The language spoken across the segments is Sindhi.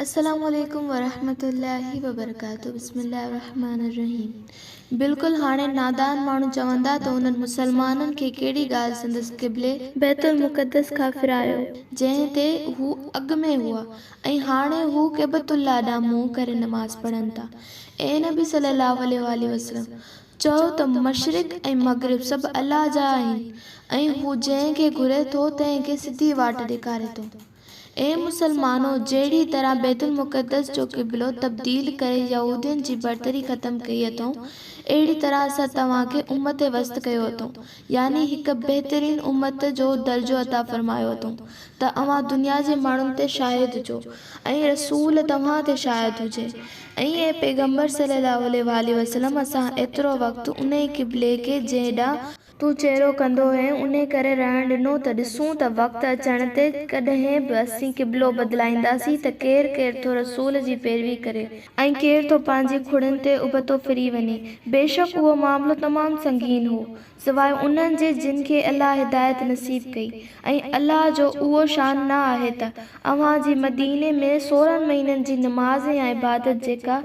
السلام عليڪم ورحمة الله وبرڪاته بسم الله الرحمٰن الرحيم بلڪل هاڻي نادان ماڻهو چوندا ته انهن مسلمانن کي ڪهڙي ڳالهه سندس قبلي بيت المقدس کان ڦيرايو جنهن تي هو اڳ ۾ هئا ۽ هاڻي هو ڪعبة الله ڏانهن منهن ڪري نماز پڙهن ٿا اي نبي صلي الله عليه واٰله وسلم چئو ته مشرق ۽ مغرب سڀ الله جا آهن ۽ هو جنهن کي گهري ٿو تنهن کي سڌي واٽ ڏيکاري ٿو. اي مسلمانو! جهڙي طرح بيت المقدس جو قبلو تبديل ڪري يهودين جي برتري ختم ڪئي اٿئون، اهڙي طرح اسان توهان کي امت وسط ڪيو اٿئون يعني هڪ بهترين امت جو درجو عطا فرمايو اٿئون ته اوهان دنيا جي ماڻهن تي شاهد هجو ۽ رسول توهان تي شاهد هجي ۽ اي پيغمبر صلّي الله عليه واٰله وسلّم اسان ايترو وقت انهي قبلي کي جنهن ڏانهن تون چيرو ڪندو هئين انهي ڪري رهڻ ڏنو ته ڏسون ته وقت اچڻ تي ڪڏهن به اسين قبلو بدلائينداسين ته ڪير ڪير ٿو رسول جي پيروي ڪري ۽ ڪير ٿو پنهنجي کڙين تي ابتو ڦري وڃي. بيشڪ اهو معاملو تمام سنگين هو، سواء انهن جي جن کي الله هدايت نصيب ڪئي ۽ الله جو اهو شان نه آهي ته اوهان جي مديني ۾ سورهن مهينن جي نماز يا عبادت جيڪا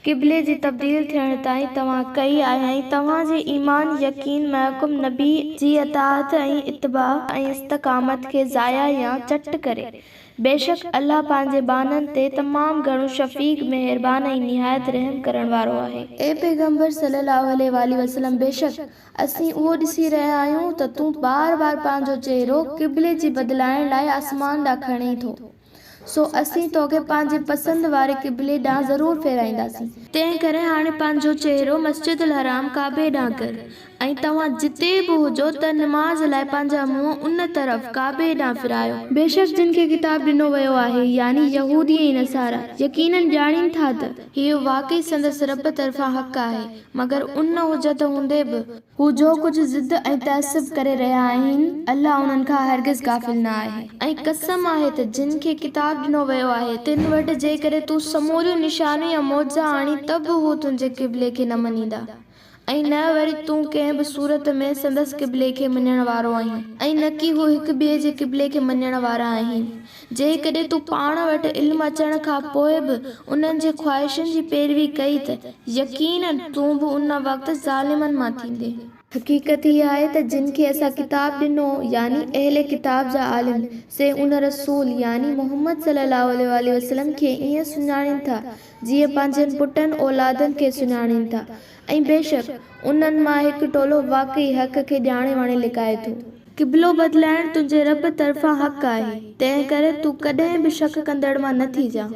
قبلي جي تبديل ٿيڻ تائين توهان ڪئي آهي ۽ توهان جي ايمان يقين محڪم نبي جي اطاعت ۽ اتباع ۽ استقامت کي ضايع يا چٽ ڪري بيشڪ الله پنهنجي ٻانهن تي تمام گهڻو شفيق، مهربان ۽ نهايت رحم ڪرڻ وارو آهي. اي پيغمبر صلّي اللّٰه عليه واٰله وسلّم بيشڪ اسين اهو ڏسي رهيا آهيون ته تون بار بار پنهنجو چهرو قبلي جي بدلائڻ لاء آسمان ڏانهن کڻين ٿو، سو اسين توکي پنهنجي پسند واري قبلي ڏانهن ضرور ڦيرائينداسين. تنهنڪري هاڻي پنهنجو چهرو مسجد الحرام، ڪعبي، ڏانهن ڪر ۽ توهان جتي به هجو ته نماز لاء پنهنجا منهن ان طرف، ڪعبي ڏانهن، ڦيرايو. بيشڪ جن کي ڪتاب ڏنو ويو آهي، يعني يهودي ۽ نصارا، يقيناً ڄاڻين ٿا ته. هيء واقعي سندس ربّ طرفان حق آهي، مگر ان حجّت هوندي به. هو جو ڪجهه ضد ۽ تعصّب ڪري رهيا آهن، الله انهن کان هرگز غافل نه آهي. ۽ قسم آهي ته جن کي ڪتاب ڏنو ويو آهي، تن وٽ جيڪڏهن تون سموريون نشانيون يا معجزا آڻين ته به هو تنهنجي قبلي کي نه مڃيندا. ۽ نه وري تون ڪنهن به صورت ۾ سندس قبلي کي مڃڻ وارو آهين. ۽ نه ڪي هو هڪ ٻئي جي قبلي کي مڃڻ وارا آهن. جيڪڏهن تون پاڻ وٽ علم اچڻ کان پوء به انهن جي خواهشن جي پيروي ڪئي ته يقيناً تون به ان وقت ظالمن مان ٿيندين. حقيقت هيء آهي ته جن کي اسان ڪتاب ڏنو، يعني اهل ڪتاب جا عالم، سي ان رسول، يعني محمد صلّي اللّٰه عليه واٰله وسلّم، کي ائين سڃاڻين ٿا جيئن پنهنجن پٽن اولادن کي سڃاڻين ٿا ۽ بيشڪ انهن مان هڪ ٽولو واقعي حق کي ڄاڻي واڻي لڪائي ٿو. قبلو بدلائڻ تنهنجي رب طرفان حق آهي، تنهنڪري تون ڪڏهن به شڪ ڪندڙ مان نه ٿيجان.